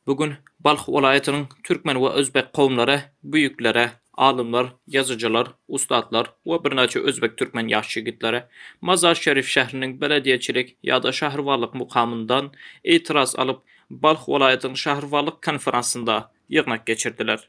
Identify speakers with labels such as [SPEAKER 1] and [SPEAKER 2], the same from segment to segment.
[SPEAKER 1] Bu gün Balh welaýatynyň türkmen we özbek kowumlary büýükleri, alymlar, ýazyjylar, ussatlar we birnäçe özbek-türkmen ýaş ýigitleri Mazar-Şerif şähriniň belediýeçilik ýa-da şäherwalyk mukamyndan itiraz alyp, Balh welaýatynyň şäherwalyk konferansynda ýygnak geçirdiler.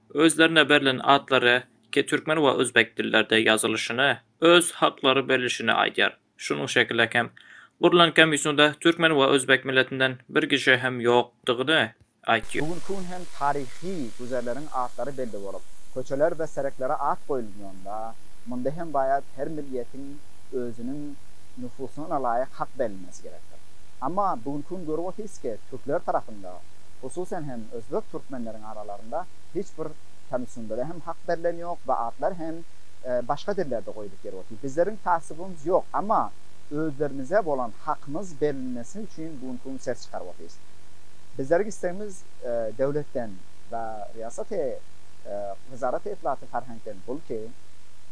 [SPEAKER 1] Özlerine berlen atlary iki türkmen we özbek dillerde ýazylyşyny, öz haklary berlişini aýdýar. Şunuň şekilde hem, gurlan komissiýada türkmen we özbek milletinden bir kişi hem ýokdygyny aýtýar. Bu günki gün hem taryhy güzerleriň atlary belli bolup, köçeler we sereklere at goýulýanda, munda hem baýat her millietiň özüniň nüfusyna laýyk hak berilmesi gerekdir. Amma bu günki gün görüp otyrys ki, türkler tarapynda, Hususan hem özbek türkmenleriň aralarynda hiç bir tanyşyndere hem hak berlen ýok we atlar hem başga dillerde goýulyp ýeri otyr. Bizleriň tassubymyz ýok, amma özlerimize bolan hakymyz berilmesi üçin bu günki gün ses çykaryp otyrys. Bizleriň istegimiz döwletden we riýasaty wezaraty itlaty farheňkden bul ki,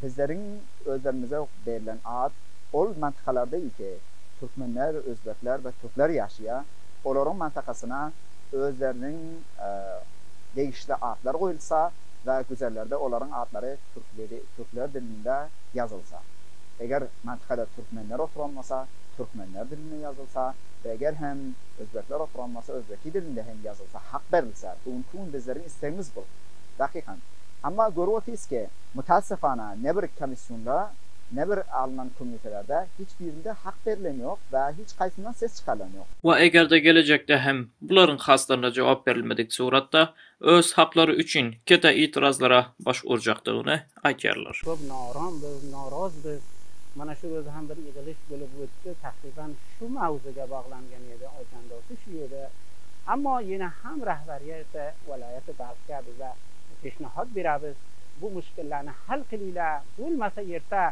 [SPEAKER 1] bizleriň özlerimize berlen at ol mantykalarda iki türkmenler, özbekler we türkler ýaşaýar. olaryň mantakasyna özleriniň degişli atlary goýulsa we güzerlerde olaryň atlary türkler dilinde ýazylsa, eger mantakada türkmenler oturan bolsa, türkmenler dilinde ýazylsa we eger hem özbekler oturan bolsa, özbeki dilinde hem ýazylsa, hak berilse, bu günki gün bizleriň islegimiz bu, dakykan. Emma görüp otyrys ki, mutassyfana, ne bir komissiýonda, ne bir alnan komiýtelerde hiç birinde hak berilen ýok we hiç Haýsyndan ses çykarylan ýok? We eger-de gelejekde hem bularyň haslaryna jogap berilmedik suratda öz haklary üçin kete itirazlara baş urjakdygyny aýdýarlar. Köp norom biz, noroz biz. Mana şu ýerde hem bir ýygylyş bolup gitdi. Takygan şu mawzuga baglangan ýedi Oýjan dosty şu ýerde. Ammo ýene ham rahbarýete, welaýata barýa biza peşnahat bera biz bu muşkillarny hal kylyla, bolmasa ýerta.